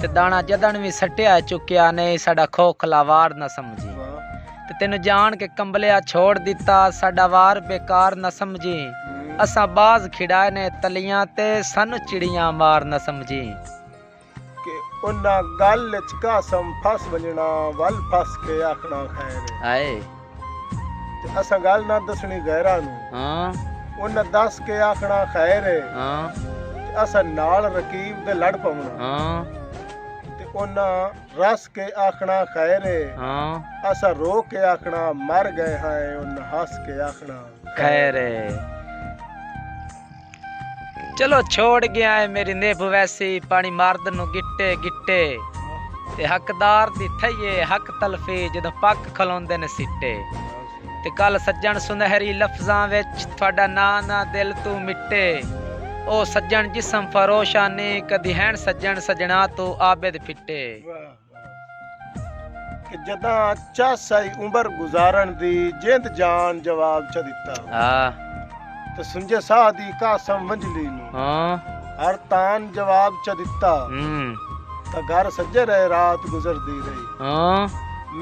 تے داݨا جدݨ وی سٹیا ہے چکیا نئیں ساݙا کھوکھلا وار نہ سمجھیں تے تینوں جاݨ کے کمبلیا چھوڑ ݙتا ساݙا وار بیکار نہ سمجھیں اساں باز کھیݙائے نے تلیاں تے سانوں چڑیاں مار نہ سمجھیں۔ کہ انہاں گل اچ قاسم پھس ونڄݨا ول پھس کے آکھݨا خیر ہے۔ تے اساں گالھ نہ دسنڑی غیراں نوں ہاں انہاں دس کے آکھنڑا خیر ہے ہاں تے اساں نال رقیب دے لڑ پونڑا ہاں تے انہاں رس کے آکھنڑا خیر ہے ہاں اساں رو کے آکھنڑا مر گئے ہیں انہاں ہس کے آکھنڑا خیر ہے چلو چھوڑ گیا ہے میری نیب ویسی پانی مارد نو گٹے گٹے تے حقدار دی تھئیے حق تلفی جدو پک کھلوندے نے سٹے تے کل سجن سنہری لفظاں وچ تھوڑا نانا دل تو مٹے او سجن جسم فروشانی کدی ہین سجن سجنا تو عابد پھٹے کہ جداں چس آئی عمر گزارن دی جند جان جواب چا دیتا ہاں۔ تے سنجے ساہ دی قاسم منجلی نو ہاں۔ ہر تان جواب چا دیتا ہاں۔ تا گھر سجے رہے رات گزر دی رہی ہاں۔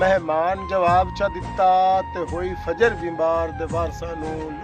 مہمان جواب چا دیتا تے ہوئی فجر بیمبار دے وارسانو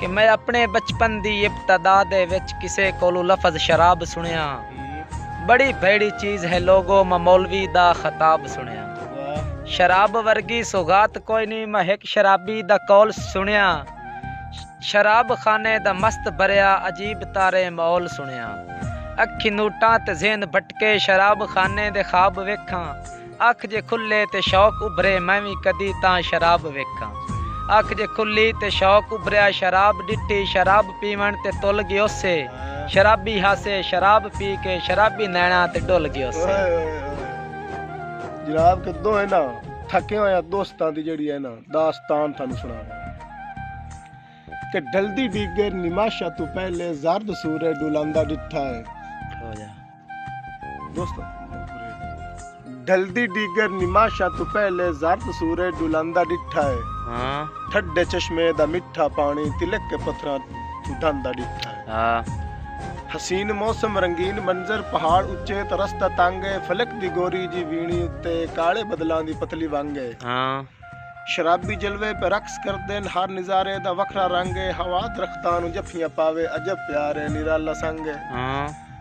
کہ میں اپݨے بچپن دی ابتدا دے وچ کسے کولوں لفظ شراب سݨیا ہاں۔ بڑی بھیڑی چیز ہے لوگو میں مولوی دا خطاب سݨیا ہاں۔ شراب ورگی سوغات کوئی نی میں ہک شرابی دا قول سݨیا ہاں۔ شراب خانے دا مست بھریا عجیب تارے ماحول سݨیا ہاں۔ اکھیں نوٹاں تے ذہن بھٹکے شراب خانے دے خواب ویکھاں۔ اکھ جے کھلے تے شوق ابھرے میں وی کدی تاں شراب ویکھاں اکھ جے کھلی تے شوق ابھریا شراب ڈٹھی شراب پیون تے تل گیوسے شرابی ہاسے شراب پی کے شرابی نیناں تے ڈل گیوسے۔ اوئے اوئے اوئے جناب کہ دو اینا تھکے ہویاں دوستاں دی جیڑی اینا داستان تھانو سناواں کہ ڈھلدی ڈیگر نماشا توں پہلے زرد سورج ڈولاندا ڈٹھا ہے۔ دوستو ڈھلدی ڈیگر نماشا تو پہلے زرد سورے ڈلاندا ڈٹھا ہے ہاں ٹھڈے چشمے دا مٹھا پانی تلک کے پتھراں تو ڈھاندا ڈٹھا ہے ہاں حسین موسم رنگین منظر پہاڑ اچے تو رستہ تانگے فلک دی گوری جی وینی اتے کالے بدلاں دی پتلی وانگے ہاں شرابی جلوے پہ رقص کر دین ہر نظارے دا وکھرا رنگے ہوا درختاں نو جفیاں پاوے عجب پیارے نرالا سنگے ہاں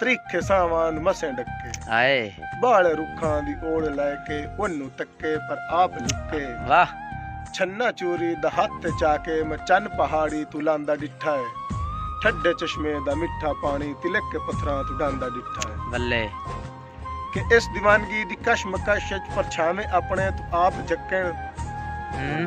تریکھے ساوان مسیں ڈکے ہائے بالے رکھاں دی اوڑ لے کے اونوں تکے پر آپ لکے واہ چھنا چوری دا ہاتھ چا کے میں چن پہاڑی تو لاندا ڈٹھا ہے ٹھڈے چشمے دا مٹھا پانی تلک کے پتھراں تو ڈاندا ڈٹھا ہے بلے کہ اس دیوانگی دی کش مکش وچ پرچھاویں اپنے تو آپ جکن ہوں